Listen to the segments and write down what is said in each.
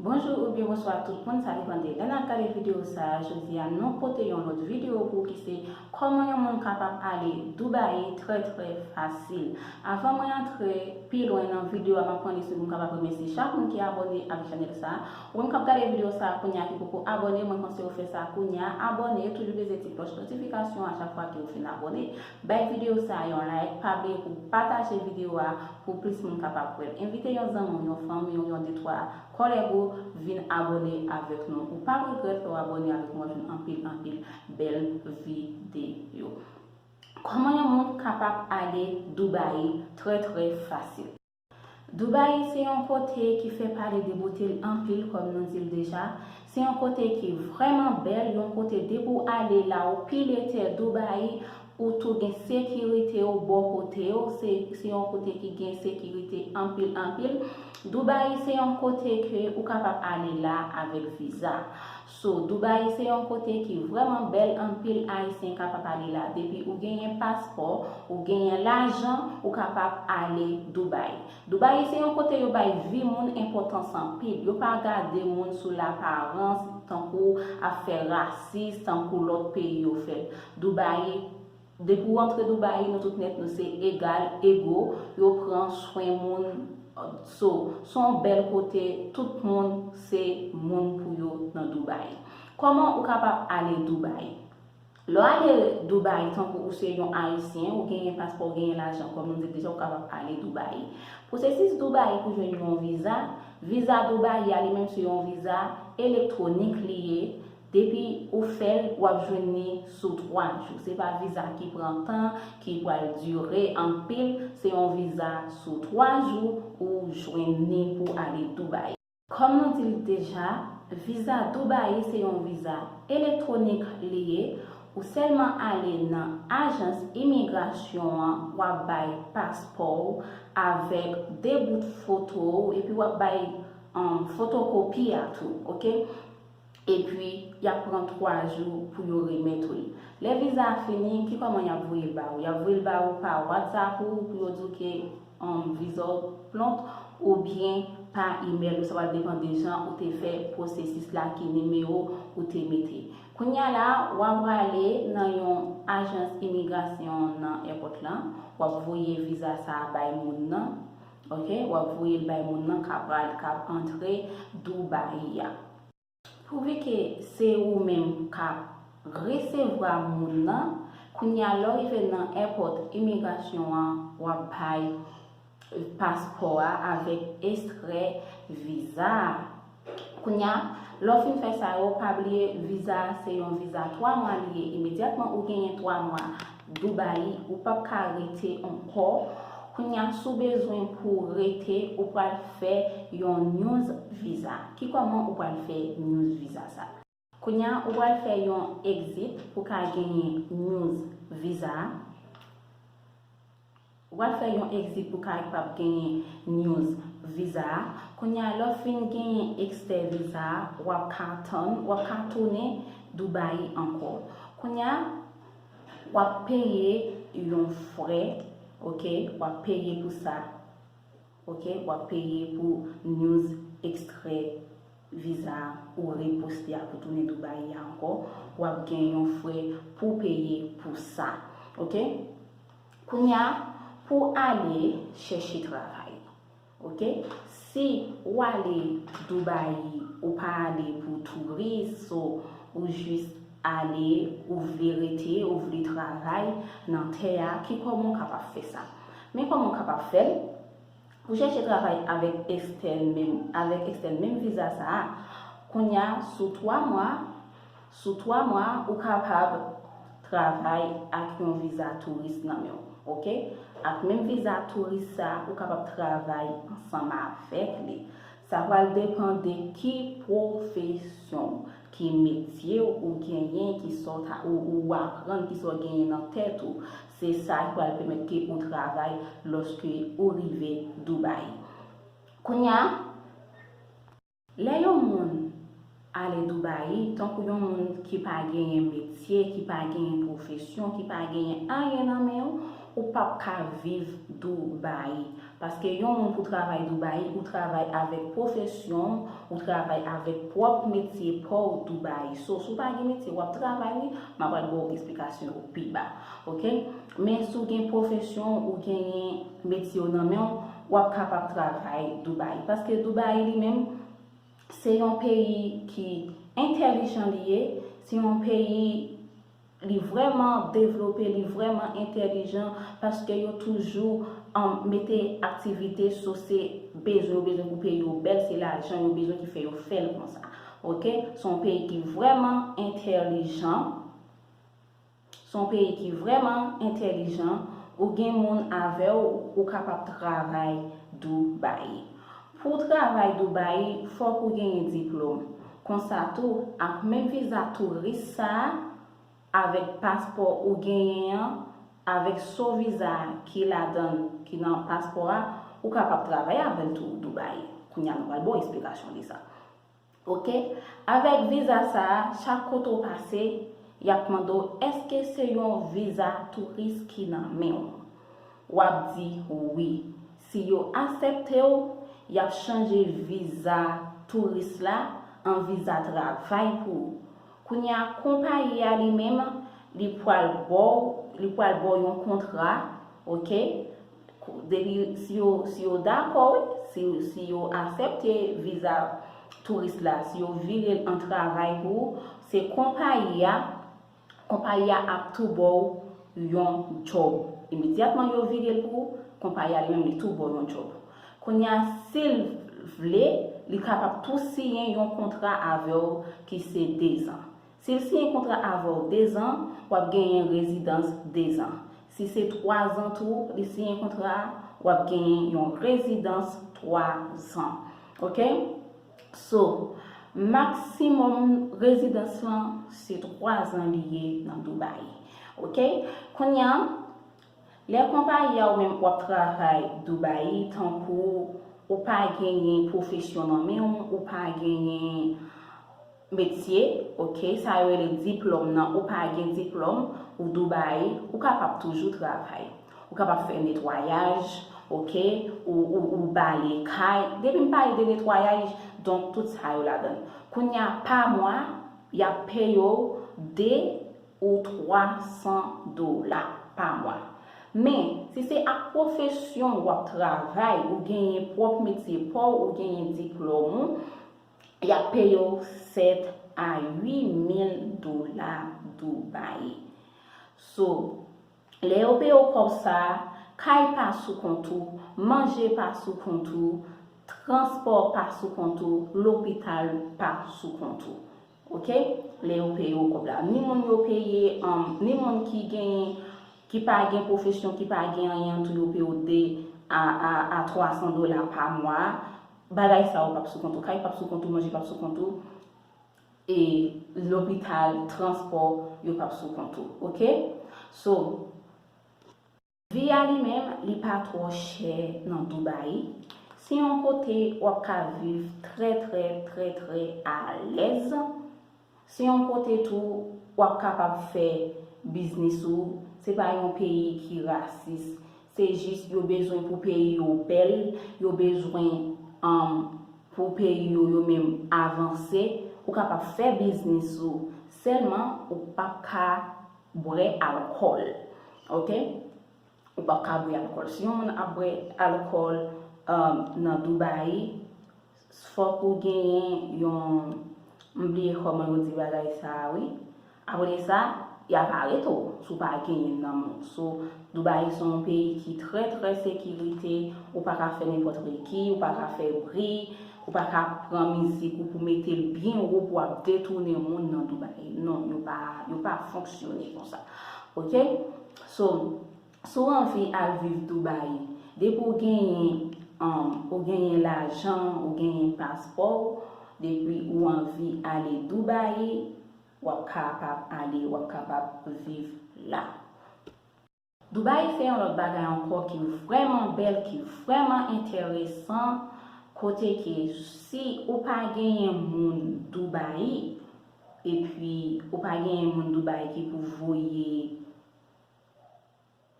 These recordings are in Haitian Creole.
Bonjou oubyen bonswa tout moun sa depan de lè nap gade video sa jodi a nou pote yon lòt video pou ki se kòman yon moun kapab ale Dubai trè trè fasil avan mwen antre pi lwen nan video a map pran li sou poum kapab remèsye chak moun ki abòne avèk chanèl sa ou menm kap gade video sa kounya ki poko abòne mwen pansew fè sa kounya abòne toujou peze ti klòch notifikasyon a chak fwa kew fin abòne. Bay video sa yon like, pa bliye pou pataje video a pou plis moun kapab wèl. Envite yon zanmi w, yon fanmi w, yon de twa kòlèg ou vin abone avèk nou. Ou pap regrèt lè w abone avèk nou wap jwenn anpil anpil bèl video. Kòman yon moun kapab ale Dubai trè trè fasil? Dubaï se yon kote ki fè pale de bote l anpil kòm nou di l deja, se yon kote ki vrèman bèl, yon kote depi w ale la ou pile tè Dubaï, ou tou gen sekirite w bò kote w, se se yon kote ki gen sekirite anpil anpil. Dubaï se yon kote ke ou kapab ale la avèk viza. So Dubai se yon kote ki vreman bel anpil ayisyen kapap ale la depi ou genyen paspò ou genyen lajan ou kapap ale Dubai. Dubai se yon kote yo bay vi moun enpotans anpil yo pa gade moun sou laparans tankou ap fè rasis tankou lot peyi yo fèl Dubai Depi w antre Dubai nou tout nèt nou se egal, ego, yo pran swen moun so son bèl kote tout moun se moun pou yo nan Dubai. Kòman ou kapab ale Dubai? Lè w ale Dubai tankou ou se yon ayisyen ou genyen paspò ou genyen lajan kòm nou di l deja ou kapab ale Dubai. Pwosesis Dubai pou jwenn yon viza, viza Dubai a li menm se yon viza elektwonik li ye, Depi ou fèl wap jwenn li sou 3 jou. Se pa viza ki pran tan, ki pwal dire anpil, se yon viza sou 3 jou ou jwenn li pou ale Dubai. Kòm nou di l deja, viza Dubai se yon viza elektwonik li ye, ou sèlman ale nan ajans imigrasyon an wap bay paspò w avèk 2 bout foto w epi wap bay fotokopi a tou ok. Epi, y ap pran twa jou pou yo remèt ou l. Lè viza a fini, ki kòman y ap voye l ba ou? Y ap voye l ba ou pa WhatsApp ou pou yo di ou ke viza w plont oubyen pa imèl ou. Sa va depan de jan ou te fè pwosesis la, ki nimewo ou te mete. Kounye a la a, w a prale nan yon ajans imigrasyon nan èpòt la, w ap voye viza sa a bay moun nan. Ok wap voyel bay moun nan kap al kap antre Dubai a. Prouve ke se ou menm kap resevra moun nan kounya lè w rive nan èpòt imigrasyon an wap bay paspò a avèk estrè viza a. Kounya lè w fin fè sa yo pa bliye viza a se yon viza 3 mwa li ye imedyatman ou genyen 3 mwa Dubai ou pap ka rete ankò kounya si w bezwen pou w rete ou pral fè yon news viza ki kòman ou pral fè news viza sa. Kounya ou pral fè yon exit pou ka genyen news visa a. Ou pral fè yon exit pou ka kpab genyen news visa a. Kounya lè w fin genyen extè visa a wap ka tann wap ka tounen Dubai ankò. Kounya wap peye yon frè ok wap peye pou sa. Ok wap peye pou news extre viza ou re poste a pou tounen Dubai ya ankò wap gen yon frè pouw peye pou sa ok kounya pou ale chèche travay ok si ou ale Dubai ou pa ale pou touris so ou jis ale ou vle rete ou vle travay nan tè a ki kòman ou kapab fè sa Men kòman w kapab fè l? Pou chèche travay avèk Estelle menm avèk Estelle menm viza sa a, kounye a sou 3 mwa sou 3 mwa ou kapab travay ak yon viza touris nan men w ok ak menm viza touris sa ou kapab travay ansanm avèk li sa pral depan de ki pwofesyon w ki metye w ou genyen ki sa w ta ou aprann ki sa w genyen nan tèt ou Se sa ki pral pèmèt ke ou travay lòske ou rive Dubai. Kounye a. Lè yon moun ale Dubai, tankou yon moun ki pa genyen metye, ki pa genyen pwofesyon, ki pa genyen anyen nan men, ou pap ka viv Dubai. Paske yon moun pou travay Dubai ou travay avèk pwofesyon ou travay avèk pwòp metye paw Dubai so si w pa gen metye wap travay wi ma pral ba w esplikasyon yo pi ba ok men si w gen pwofesyon w ou genyen metye w nan men w wap kapab travay Dubai paske Dubai li menm se yon peyi ki entèlijan li ye se yon peyi Li vrèman devlope, li vrèman entèlijan paske yo toujou mete aktivite sou se bezwen yo bezwen pou peyi yo bèl, se lajan yo bezwen ki fè yo fè l konsa. Ok. Se yon peyi ki vrèman entèlijan, se yon peyi ki vrèman entèlijan, ou gen moun avè w ou kapab travay Dubai. Pou w travay Dubai fòk ou genyen diplom. Konsa tou, ak menm viza touris sa a, avèk paspò ou genyen an, avèk so viza ki ladan l, ki nan paspò a, ou kapab travay avè l tou Dubai. Kounya nou pral ba w esplikasyon de sa. Ok avèk viza sa a chak kote ou pase yap mande w èske se yon viza touris ki nan men w wap di wi si yo asèpte w yap chanje viza touris la an viza travay pou ou kounye a konpayi a li menm li pwal bò w li pwal bò w yon kontra ok Depi si yo dakò wi, si yo asèpte viza touris la, si yo vire l an travay pou ou, se konpayi a, konpayi a ap tou ba w yon djòb. Imedyatman yo vire l pou ou, konpayi a li menm li tou ba w yon djòb. Kounye a, si l vle, li kapab tou siyen yon kontra avè w ki se dezan. Si l siyen kontra avè w dezan, w ap genyen rezidans dezan. Si se twazan tou li siyen kontra a, w ap genyen yon rezidans twazan. Ok? So, maksimòm rezidans lan se twazan li ye nan Dubai. Ok? Kounya, lè konpayi a ou menm w ap travay Dubai, tankou ou pa genyen pwofesyon nan men w, ou pa genyen. Metye ok sa yo rele diplom nan ou pa gen diplom ou Dubai ou kapab toujou travay ou kapab fè netwayaj ok ou ou bale kay depi m pale de netwayaj donk tout sa yo ladann kounya pa mwa yap peye w 2 ou 3 san dola pa mwa men si se ak pwofesyon w wap travay ou genyen pwop metye paw ou genyen diplom ou Y ap peye w 7 a 8 mil dola Dubai. So, lè yo peye w kòb sa a, kay pa sou kont ou, manje pa sou kont ou, transpò pa sou kont ou, lopital pa sou kont ou. Ok? Lè yo peye w kòb la. Ni moun yo peye, ni moun ki gen, ki pa gen pwofesyon, ki pa gen anyen an tou yo peye w 2 a 300 dola pa mwa Bagay sa yo pap sou kont ou, kay pap sou kont ou, manje pap sou kont ou, e lopital, transpò, yo pap sou kont ou. Ok? So, vi a li menm, li pa twò chè nan Dubai. Se yon kote wap ka viv trè trè trè trè alèz. Se yon kote tou wap kapab fè biznis ou, se pa yon peyi ki rasis, se jis yo bezwen pou peyi yo bèl, yo bezwen pou peyi yo yo menm avanse, ou kapab fè biznis ou, sèlman ou pap ka bwè alkòl ok, ou pap ka bwè alkòl, si yon moun ap bwè alkòl nan Dubaï. Fòk ou genyen yon m bliye kòman yo di bagay sa a wi. Apre de sa, y ap arete w si w pa genyen nan men w. So, Dubai se yon peyi ki trè trè sekirite, ou pa ka fè nenpòt regi, ou pa ka fè bri, ou pa ka pran mizik ou pou mete l byen wo pou w ap detounen moun nan Dubai. Non, yo pa fonksyone konsa. Ok? So, Si w anvi al viv Dubai, depi w genyen ou genyen lajan, ou genyen paspò w, depi ou anvi ale Dubai, w ap kapab ale, w ap kapab viv la. Dubai se yon lòt bagay ankò ki vrèman bèl, ki vrèman enteresan, kote ke si ou pa genyen moun Dubai, epi ou pa genyen moun Dubai ki pou voye,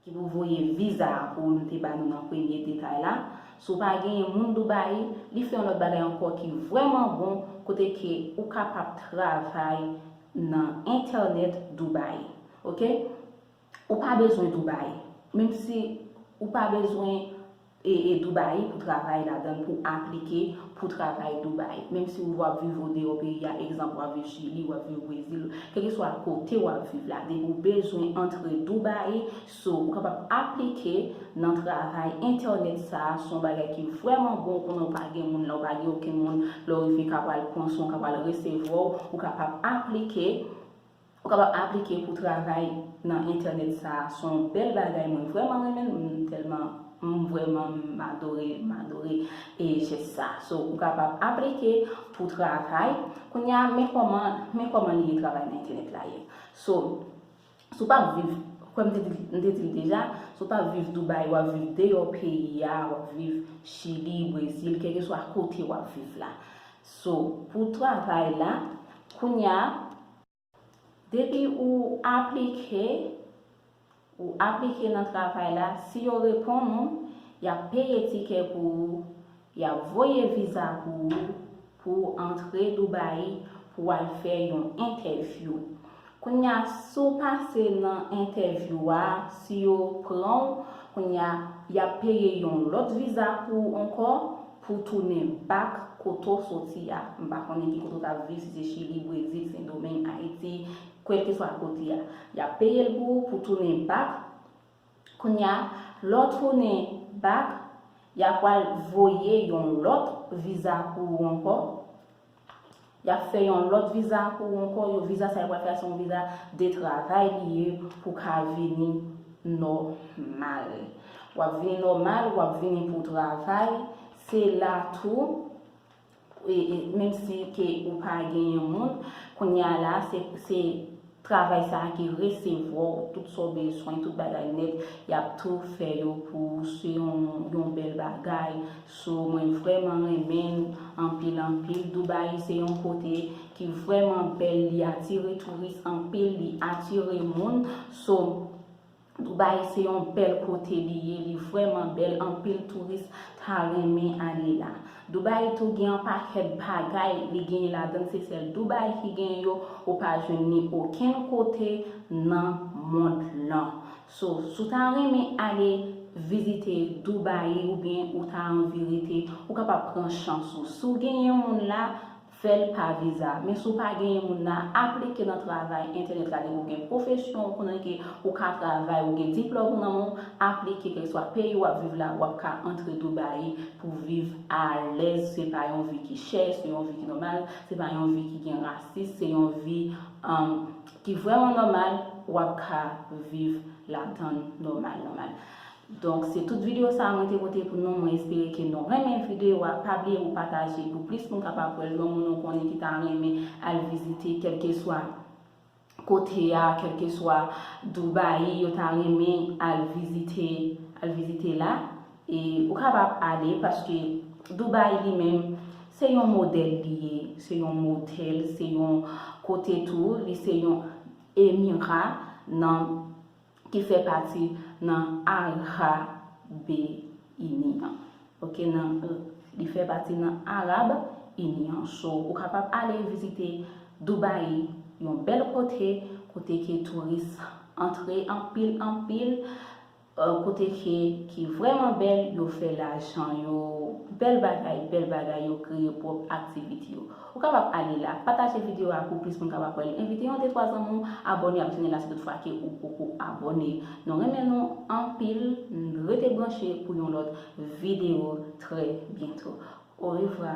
Ki pou voye viza a pou ou nou te ba nou nan premye detay la. Si w pa genyen moun Dubai, li fè yon lòt bagay ankò ki vrèman bon kote ke ou kapab travay nan entènèt Dubai. Ok. Ou pa bezwen Dubai. Menm si ou pa bezwen. e Dubai pou travay ladann pou aplike pou travay Dubai menm si ou vwa viv ou deyò peyi a egzanp wap viv chili wap viv brezil kelkeswa kote wap viv la depi ou bezwen antre Dubai so ou kapab aplike nan travay entènèt sa a son bagay ki vrèman bon konnen ou pa gen moun la ou pa gen okenn moun lè ou rive ka pral pran son ka pral resevwa ou ou kapab aplike. Ou kapab aplike pou travay nan entènèt sa a son bèl bagay mwen vrèman renmen l m tèlman m vrèman m adore m adore e jès sa a so ou kapab aplike pou travay kounya men kòman men kòman li ye travay nan entènèt la ye so si w pap viv kwè m te di m te di l deja si w pap viv Dubai wap viv deyò peyi a wap viv chili brezil kèlkeswa kote wap viv la so pou travay la kounya Depi ou aplike, ou aplike nan travay la, si yo reponn ou, y ap peye tikè pou ou, y ap voye viza pou ou, pou ou antre Dubai pou w al fè yon entèvyou. Kounye a, si w pase nan entèvyou a, si yo pran ou, kounye a, y ap peye yon lòt viza pou ou ankò, Pou tounen back kote w soti a, m pa konnen ki kote w t ap viv, si se Chili, Brezil, Sendomeng, Ayiti, kèlkeswa kote a. Y ap peye l pou ou pou tounen back. Kounye a, lè w tounen back, y a pral voye yon lòt viza pou ou ankò. Yap fè yon lòt viza pou ou ankò, yo viza sa yo pral fè a se yon viza de travay li ye pou w ka vini nòmal. Wap vini nòmal, wap vini pou travay, se la tou menm si ke ou pa genyen moun, kounya la se Travay sa ki resevwa w tout sa w bezwen tout bagay nèt yap tou fè yo pou ou se yon bèl bagay so mwen vrèman renmen l anpil anpil Dubai se yon kote ki vrèman bèl li atire touris anpil li atire moun so Dubai se yon bèl kote li ye li vrèman bèl anpil touris ta renmen ale la. Dubai tou gen yon pakèt bagay li genyen ladann se sèl Dubai ki genyen yo ou pa jwenn ni okenn kote nan mond lan. So si w ta renmen ale vizite Dubai oubyen ou ta anvi rete ou kapab pran chans ou si w genyen moun la Fè l pa viza. Men si w pa genyen moun nan, aplike nan travay entènèt la dèke w gen pwofesyon ou konnen ke ou ka travay ou gen diplòm ou nan men w, aplike kèlkeswa peyi w ap viv la w ap ka antre Dubaï pou viv alèz se pa yon vi ki chè se yon vi ki nòmal se pa yon vi ki gen rasis se yon vi ki vrèman nòmal w ap ka viv ladann nòmal nòmal. Donk se tout video sa mwen te pote pou nou mwen espere ke nou renmen video a pa bliye pou pataje pou plis moun kapab wèl yon moun ou konnen ki ta renmen al vizite kelkeswa kote a kelkeswa Dubai yo ta renmen al vizite al vizite la e ou kapab ale paske Dubai li menm se yon modèl li ye se yon modèl se yon kote tou li se yon emira nan ki fè pati nan Arab Ini an. Ok nan li fè pati nan Arab Ini an. So ou kapab ale vizite Dubai yon bèl kote, kote ke touris antre anpil anpil, kote ke ki vrèman bèl, yo fè lajan yo, bèl bagay, bèl bagay yo kreye pwòp aktivite yo. Ou kapab ale la. Pataje video a pou plis moun kapab wèl. Envite yon de twa zanmi w abòne ak chanèl la si tout fwa ke ou poko abòne. Nou renmen nou anpil n rete branche pou yon lòt video trè byento. Orevwa!